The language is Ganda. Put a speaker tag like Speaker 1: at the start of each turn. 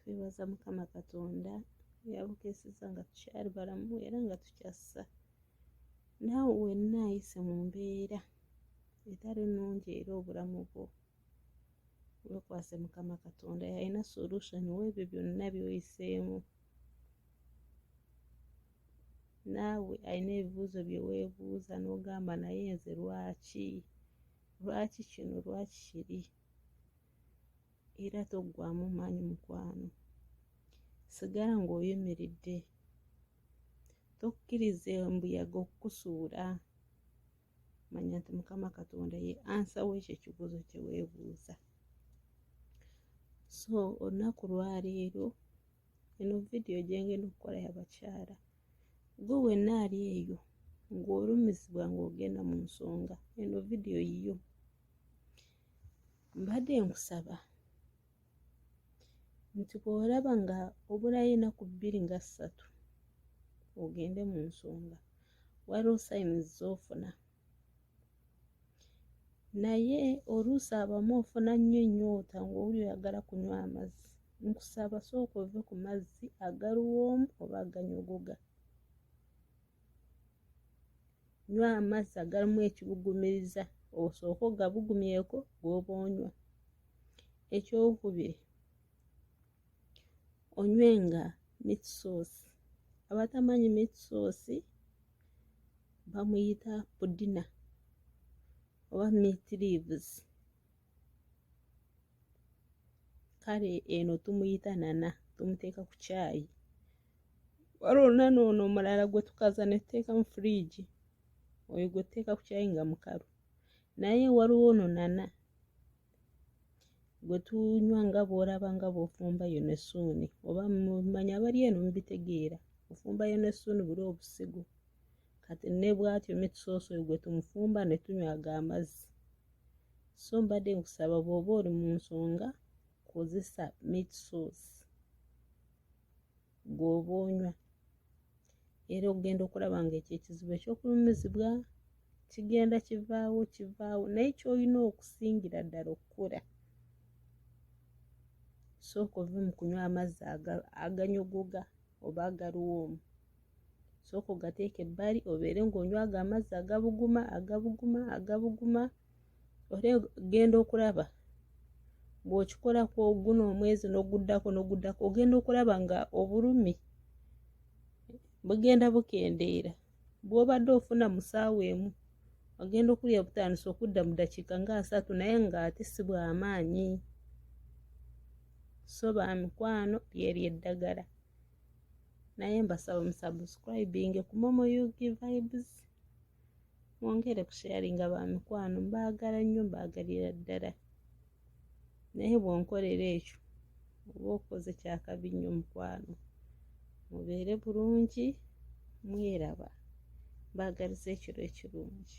Speaker 1: twebaza mukama katonda yabukeseza nga tukyali balamu era nga tukyassa naawe wenna ayise mu mbeera etali nnungi era obulamu bwo wekwase mukama katonda yalina solution webyo byonna byoyiseemu naawe alina ebibuuzo byewebuuza nogamba naye nze lwaki lwaki kino lwaki kiri era toggwamu maanyi mukwano sigala ng'oyimiridde tokkiriza embuyaga okukusuula manya nti mukama katonda ye ansa wekyo ekibuuzo kyeweebuuza so olunaku lwaleero eno vidiyo gyengenda okukola yabakyala gwe wenna ali eyo ng'olumizibwa ng'ogenda mu nsonga eno vidiyo yiyo mbadde nkusaba nti bw'olaba nga obulayo enaku bbiri nga ssatu ogende mu nsonga waliwo sayini z'ofuna naye oluusi abamu ofuna nnyo ennyota ng'oli oyagala kunywa amazzi nkusaba sooka ove ku mazzi agaluwoomu oba aganyogoga nywa amazzi agalimu ekibugumiriza osooke ogabugumyeko bwoba onywa ekyokubiri onywe nga meat sauce abatamanyi meat sauce bamuyita pudina oba meat leaves kale eno tumuyita nana tumuteeka ku kyayi wali olunana ono omulala gwe tukaza ne tuteeka mu firiigi oyo gwe tuteeka ku kyayi nga mukalu naye waliwo ono nana gwe tunywa nga bw'olaba nga bw'ofumbayo ne suuni oba mumanya abali eno mubitegeera ofumbayo ne suuni buli obusigo kati ne bwatyo mitusoosooyo gwe tumufumba ne tunywaga amazzi so mbadde nkusaba bw'oba oli mu nsonga kozesa meat sauce gw'oba onywa era ogenda okulaba nga ekyo ekizibu ekyokulumizibwa kigenda kivaawo kivaawo naye kyolina okusingira ddala okukola sooka ove mu kunywa amazzi aganyogoga oba agaliwo omu sooka ogateeka ebbali obeere ng'onywa ago amazzi agabuguma agabuguma agabuguma ore genda okulaba bw'okikolako guno omwezi n'oguddako n'oguddako ogenda okulaba nga obulumi bugenda bukendeera bw'obadde ofuna mu saawa emu ogenda okulya butandisa okudda mu ddakiika nga asatu naye ng'ate si bw'amaanyi so ba mikwano lyeryo eddagala naye mbasaba musubscribing ku momo ug vibes mwongere ku sharing ba mikwano mbaagala nnyo mbaagalira ddala naye bwonkolera ekyo oba okoze kyakabi nnyo mukwano mubeere bulungi mweraba mbaagaliza ekiro ekirungi